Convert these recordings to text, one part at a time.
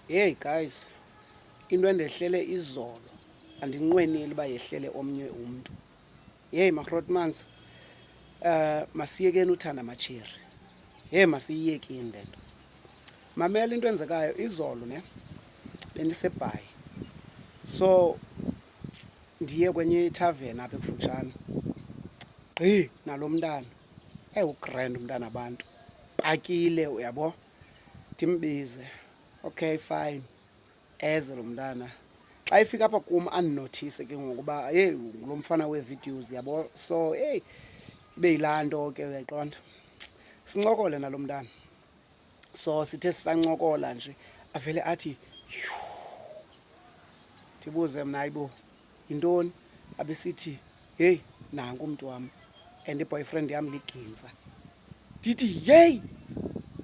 Hey guys, into endehlele izolo andinqweneli uba yehlele omnye umntu. Hey maRotmans, uh, eh, masiyekeni uthanda amatshiri. Hey masiyiyekeni le nto. Mamela into enzekayo izolo ne bendisebhayi. So ndiye kwenye ithaveni apha ekufutshane gqi nalo mntana ewugrand umntana abantu ndipakile uyabo ndimbize okay fine eze lo mntana xa ifika apha kum andinothise ke ngokuba yeyi ngulo mfana wee-videos yabo so eyi ibe yilaa nto ke uyaqonda sincokole nalo mntana so sithe sisancokola nje avele athi yhu ndibuze mna ayibo yintoni abesithi heyi nanku umntu wam and iboyfriend yam ligintsa ndithi yeyi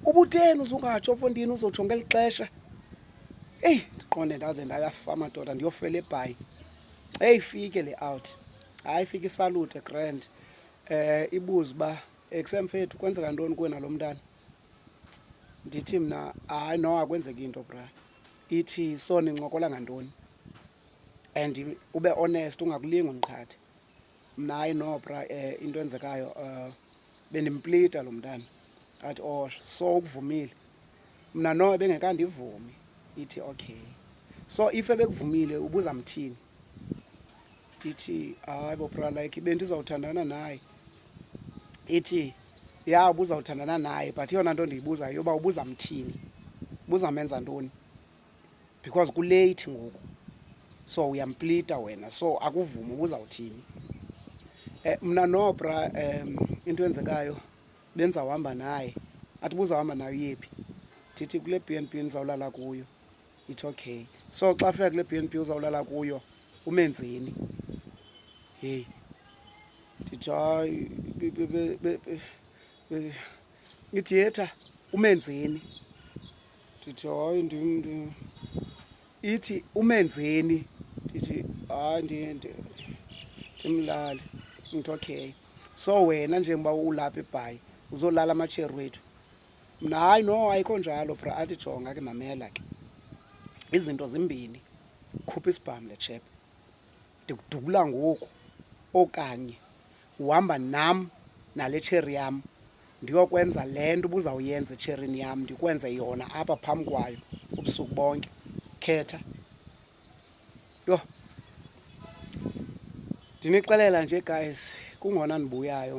ubutheni uzungatsho mfondini uzotsho ngeli xesha eyi ndiqonde ndaze ndayafa madoda ndiyofela ebhayi eyi ifike le out hayi ifike isalute grand um eh, ibuze uba eksemfethu kwenzeka ntoni kuwe nalo mntana ndithi mna hayi no akwenzeki into bra ithi so nincokola ngantoni and ube honest ungakulingi undiqhathe mna hayi no bra um into enzekayo um bendimplita lo mntana athi o oh, so ukuvumile mna no ebengekandivumi ithi okay so if ebekuvumile ubuza mthini ndithi hayi bobra like bendizawuthandana naye ithi ya ubuzawuthandana naye but yona nto ndiyibuzayo yoba ubuza mthini buzamenza ntoni because kulate ngoku so uyamplita wena so akuvumi ubuzawuthini eh, mna nobra um into enzekayo benza uhamba naye athi buzawuhamba nayo yephi ndithi kule b n b ndizawulala kuyo it's okay so xa fika kule b n b uzawulala kuyo umenzeni hey ndithi hayi ithi yetha umenzeni ndithi hayi ndim ithi umenzeni ndithi hayi ndimlali ndithi okay so wena njengoba ulapha ebhayi uzolala amatsheri wethu mna hayi no ayikho njalo bra athi jonga ke mamela ke izinto zimbini khupha isibhamu le chep ndikudubula ngoku okanye uhamba nam nale tsheri yam ndiyokwenza le nto ubuzawuyenza etsherini yam ndikwenze yona apha phambi kwayo ubusuku bonke khetha yho ndinixelela nje guys kungona ndibuyayo